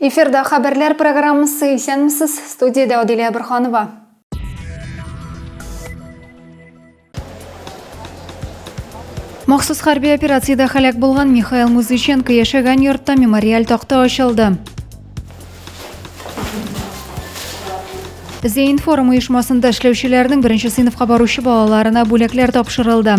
Эфирда хәбәрләр программасы исәнмесез, студиядә Адилә Бөрханова. Махсус хәрби операциядә халәк булган Михаил Музыченко яшәгән йортта мемориаль такта ачылды. Зейн форум оешмасында эшләүчеләрнең беренче сыйныфка баручы балаларына бүләкләр тапшырылды.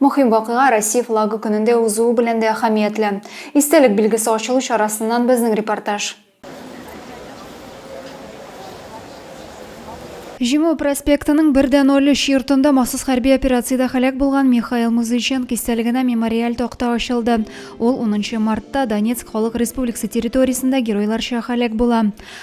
Мөһим вакыйга Россия флагы көнендә узуы белән дә әһәмиятле. Истәлек билгесе ачылу чарасыннан безнең репортаж. Җиңү проспектының бер дә ноль өч йортында махсус хәрби операциядә һәлак булган Михаил Музыченко истәлегенә мемориаль такта ачылды. Ул унынчы мартта Донецк Халык Республикасы территориясендә геройларча һәлак була.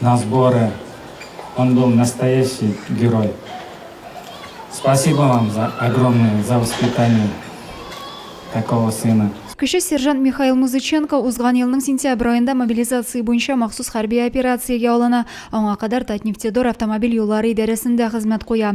на сборы он был настоящий герой спасибо вам за огромное за воспитание такого сына. Кече сержант Михаил Музыченко узган елның сентябрь аенда мобилизация буенча махсус хәрби операциягә алына. Аңа кадәр Татнефтедор автомобиль юллары идарәсендә хезмәт куя.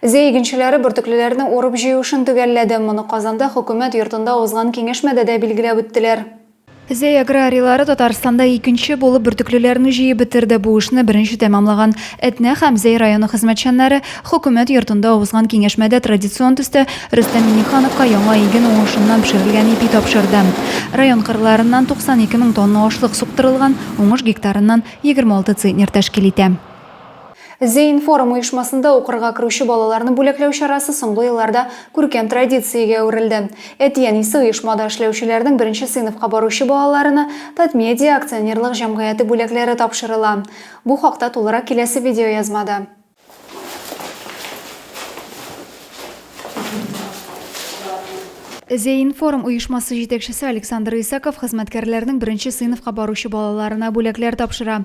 Зәй игенчеләре бөртеклеләрне урып-җыю эшен төгәлләде. Моны Казанда Хөкүмәт йортында узган киңәшмәдә дә билгеләп үттеләр. Зәй аграрийлары Татарстанда икенче булып бөртеклеләрне җыеп бетерде. Бу эшне беренче тәмамлаган Әтнә һәм Зәй районы хезмәтчәннәре Хөкүмәт йортында узган киңәшмәдә традицион төстә Рөстәм Миңнехановка яңа иген уңышыннан пешерелгән ипи тапшырды. Район кырларыннан 92 мең тонна ашлык суктырылган, уңыш гектарыннан 26 центнер тәшкил итә. Зеинформ оешмасында укырга керүче балаларны бүләкләү чарасы соңгы елларда күркәм традициягә әверелде. Әти-әнисе оешмада эшләүчеләрнең беренче сыйныфка баручы балаларына Татмедиа акционерлык җәмгыяте бүләкләре тапшырыла. Бу хакта тулырак киләсе видеоязмада. Зеинформ оешмасы җитәкчесе Александр Исаков хезмәткәрләрнең беренче сыйныфка баручы балаларына бүләкләр тапшыра.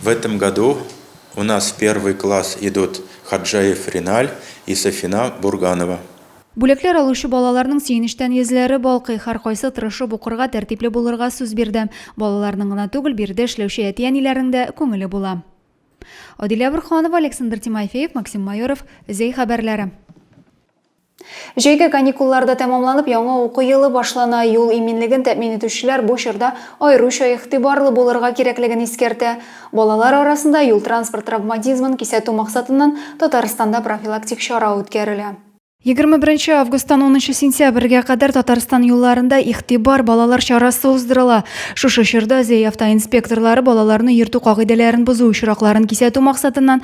В этом году у нас в первый класс идут Хаджаев Риналь и Сафина Бурганова. Бүләкләр алучы балаларның сөенечтән йөзләре балкый, һәркайсы тырышып укырга, тәртипле булырга сүз бирде. Балаларның гына түгел, биредә эшләүче әти-әниләрнең дә күңеле була. Адилә Бурханова, Александр Тимофеев, Максим Майоров, Зәй хәбәрләре. Җәйге каникуллар да тәмамланып, яңа уку елы башлана. Юл иминлеген тәэмин итүчеләр бу чорда аеруча игътибарлы булырга кирәклеген искәртә. Балалар арасында юл-транспорт травматизмын кисәтү максатыннан Татарстанда профилактик чара үткәрелә. Егерме беренче августтан унынчы сентябрьгә кадәр Татарстан юлларында Игътибар, балалар чарасы уздырыла. Шушы чорда ЗЭИ автоинспекторлары балаларны йөртү кагыйдәләрен бозу очракларын кисәтү максатыннан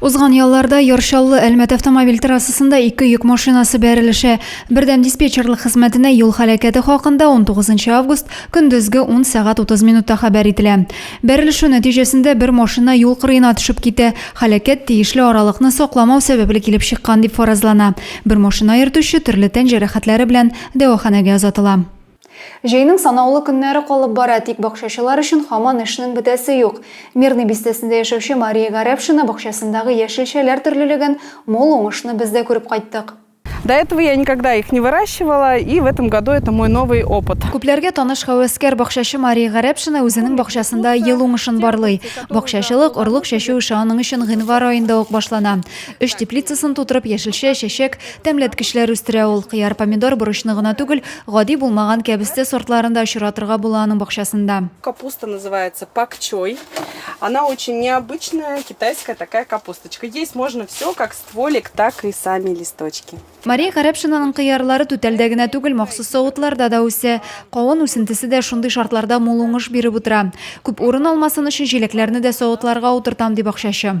Узган ялларда Яршаллы Әлмәт автомобиль трассасында ике йөк машинасы бәрелеше. Бердәм диспетчерлык хезмәтенә юл халәкәте хакында 19 август көндезге 10 сәгать 30 минутта хәбәр ителә. Бәрелеше нәтиҗәсендә бер машина юл кырыена төшеп китә. Халәкәт тиешле аралыкны сакламау сәбәпле килеп чыккан дип фаразлана. Бер машина йөртүче төрле тән җәрәхәтләре белән дәваханәгә озатыла. Җәйнең санаулы көннәре калып бара, тик бакчачылар өчен һаман эшнең бетәсе юк. Мирный бистәсендә яшәүче Мария Гарәпшина бакчасындагы яшелчәләр төрлелеген, мул уңышны без дә күреп кайттык. До этого я никогда их не выращивала, и в этом году это мой новый опыт. Күпләргә таныш һәвәскәр бакчачы Мария Гарәпшина үзенең бакчасында ел уңышын барлый. Бакчачылык, орлык чәчү эше аның өчен гыйнвар аенда ук башлана. Өч теплицасын тутырып, яшелчә, чәчәк, Тәмләткечләр үстерә ул. Кыяр, помидор, борычны гына түгел, гади булмаган кәбестә сортларын да очратырга була аның бакчасында. Капуста называется пакчой. Она очень необычная, китайская такая капусточка. Есть можно все, как стволик, так и сами листочки. Мария Гарәпшинаның кыярлары түтәлдә генә түгел, махсус савытларда да үсә. Кавын үсентесе дә шундый шартларда мул уңыш биреп утыра. Күп урын алмасын өчен җиләкләрне дә савытларга утыртам, ди бакчачы.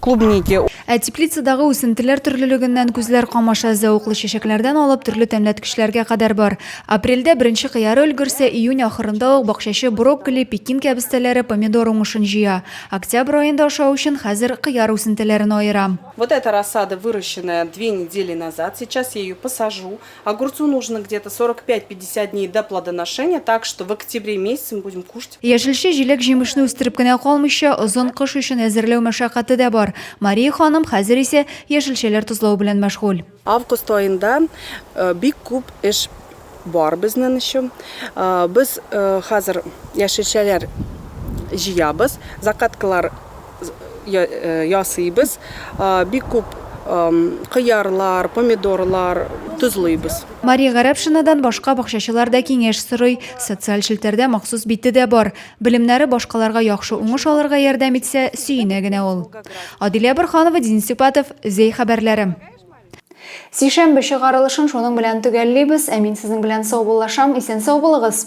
клубники. Ә теплицадагы үсентеләр төрлелегеннән күзләр камаша, зәвыклы чәчәкләрдән алып төрле тәмләткечләргә кадәр бар. Апрельдә беренче кыяры өлгерсә, июнь ахырында ук бакчачы брокколи, пекин кәбестәләре, помидор уңышын җыя. Октябрь аенда ашау өчен хәзер кыяр үсентеләрен аера. Вот эта рассада выращенная две недели назад, сейчас я ее посажу. Огурцу нужно где-то 45-50 дней до плодоношения, так что в октябре месяце мы будем кушать. Яшелчә, җиләк, җимешне үстереп кенә калмыйча, озын кыш өчен әзерләү мәшәкате дә бар. Мария ханым хәзер исә яшелчәләр тозлау белән мәшгуль. Август аенда бик күп эш бар безнен өчен. Без хәзер яшелчәләр җыябыз, закаткалар ясыйбыз. Бик күп кыярлар, помидорлар тозлыйбыз. Мария Гарәпшинадан башка бакчачылар да киңәш сорый. Социаль челтәрдә махсус бите дә бар. Белемнәре башкаларга яхшы уңыш алырга ярдәм итсә, сөенә генә ул. Адилә Борһанова, Денис Сюпатов, Зәй хәбәрләре. Сишәмбе чыгарылышын шуның белән төгәллибез. Ә мин сезнең белән саубуллашам. Исән-сау булыгыз!